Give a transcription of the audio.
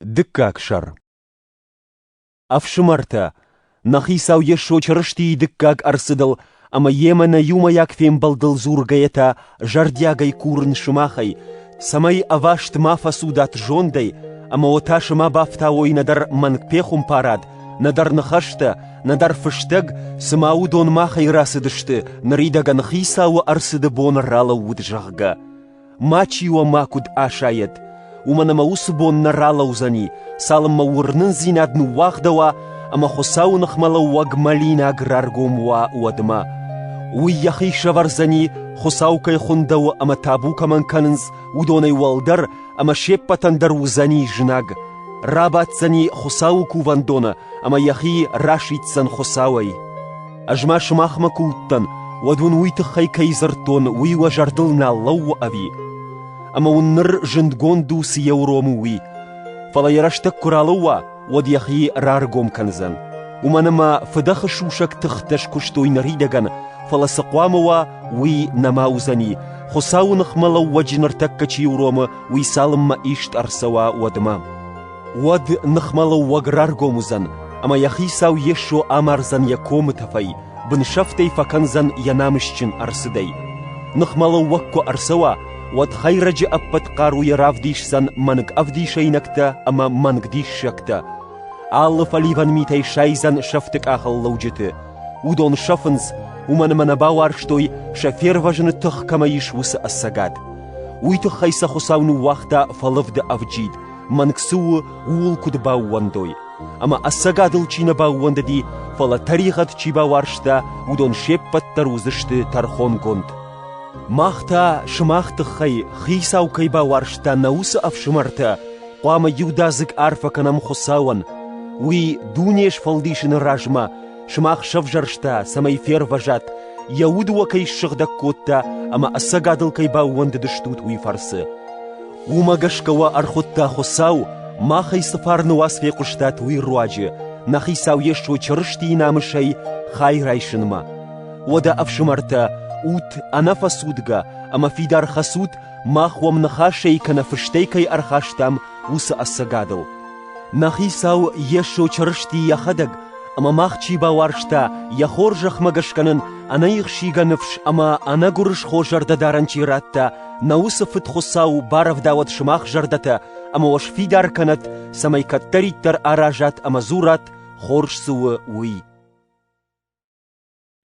Дыккаг сӕр Ӕфсымӕртӕ, нӕ хицау Йесо Чырыстийы дыккаг ӕрцыдыл ӕмӕ йемӕ нӕ иумӕйаг фембӕлдыл дзургӕйӕ та зӕрдиагӕй курын сымахӕй, цӕмӕй ӕваст ма фӕцудат зондӕй ӕмӕ о та сымӕ бафтауой нӕдӕр мӕнг пехуымпарад, нӕдӕр ныхӕстӕ, нӕдӕр фыстӕг, цыма уыдон махӕй рацыдысты, ныридӕгӕн Хицауы ӕрцыды бон ралӕууыд, зӕгъгӕ. Мачи уӕ ма куыд асайӕд, уымӕн ӕмӕ уыцы бон нӕ ралӕудзӕни, цалынмӕ уырнындзинад ныууагъдӕуа ӕмӕ Хуыцауы ныхмӕлӕууӕг мӕлинаг раргом уа, уӕдмӕ. Уый йӕхи сӕвӕрдзӕни, Хуыцау кӕй хуындӕуы ӕмӕ табу кӕмӕн кӕнынц, уыдонӕй уӕлдӕр ӕмӕ се ппӕтӕн дӕр уыдзӕни знаг, рабаддзӕни Хуыцауы кувӕндоны ӕмӕ йӕхи расиддзӕн Хуыцауӕй. Ӕз ма сымахмӕ куы уыдтӕн, уӕд уын уый тыххӕй кӕй дзырдтон, уый уӕ зӕрдыл нал лӕууы ӕви? Ӕмӕ уын ныр зындгонд у, цы йӕ уромы, уый. Фӕлӕ йӕ рӕстӕг куы ралӕууа, уӕд йӕхи раргом кӕндзӕн. Уымӕн ӕмӕ фыдӕхы сусӕг тыхтӕ скуыстой ныридӕгӕн, фӕлӕ цы хъуамӕ уа, уый нӕма уыдзӕни, Хуыцауы ныхмӕ лӕууӕджы ныртӕккӕ чи уромы, уый цалынмӕ ист ӕрцӕуа, уӕдмӕ. Уӕд ныхмӕлӕууӕг раргом уыдзӕн, ӕмӕ йӕ хицау Йесо амардзӕн йӕ комы тӕфӕй, бынсӕфтӕй фӕкӕндзӕн йӕ намысджын ӕрцыдӕй. Ныхмӕлӕууӕг куы ӕрцӕуа, уӕд Хӕйрӕджы ӕппӕт хъаруйӕ равдисдзӕн мӕнг ӕвдисӕйнӕгтӕ ӕмӕ мӕнг диссӕгтӕ. Алы фӕливӕн митӕй сайдзӕн сӕфты къахыллӕуджыты. Уыдон сӕфынц, уымӕн ӕмӕ нӕ бауарзтой, сӕ фервӕзыны тых кӕмӕ ис, уыцы ӕцӕгад. Уый тыххӕй сӕ Хуыцау ныууагъта фӕлывды ӕвджид, Мӕнг цы у, ууыл куыд баууӕндой, ӕмӕ ӕцӕгадыл чи нӕ баууӕндыди, фӕлӕ тӕригъӕд чи бауарзта, уыдон се ппӕт дӕр уыдзысты тӕрхонгонд. Мах та, сымах тыххӕй, хицау кӕй бауарзта нӕ уыцы ӕфсымӕртӕ, хъуамӕ иудадзыг арфӕ кӕнӕм Хуыцауӕн. Уый дуне сфӕлдисыны размӕ сымах сӕвзӕрста, цӕмӕй фервӕзат, йӕ уд уӕ кӕй ссыгъдӕг кодта ӕмӕ ӕцӕгадыл кӕй баууӕндыдыстут, уый фӕрцы. Уымӕ гӕсгӕ уӕ ӕрхуыдта Хуыцау, мах ӕй цы фарны уац фехъуыстат, уый руаджы, нӕ Хицау Йесо Чырыстийы намысӕй хай райсынмӕ. Уӕдӕ, ӕфсымӕртӕ, ут ӕнӕфӕцудгӕ ӕмӕ фидар хӕцут, мах уӕм ныхасӕй кӕнӕ фыстӕй кӕй ӕрхастам, уыцы ӕцӕгадыл. Нӕ Хицау Йесо Чырысти йӕхӕдӕг, ӕмӕ мах чи бауарзта, йӕ хорзӕхмӕ гӕсгӕ нын ӕнӕихсийгӕ ныфс ӕмӕ ӕнӕгуырысхо зӕрдӕдарӕн чи радта, Нӕ уыцы Фыдхуыцау барӕвдауӕд сымах зӕрдӕтӕ ӕмӕ уӕ сфидар кӕнӕд, цӕмӕй кӕддӕриддӕр аразат ӕмӕ дзурат, хорз цы у, уый.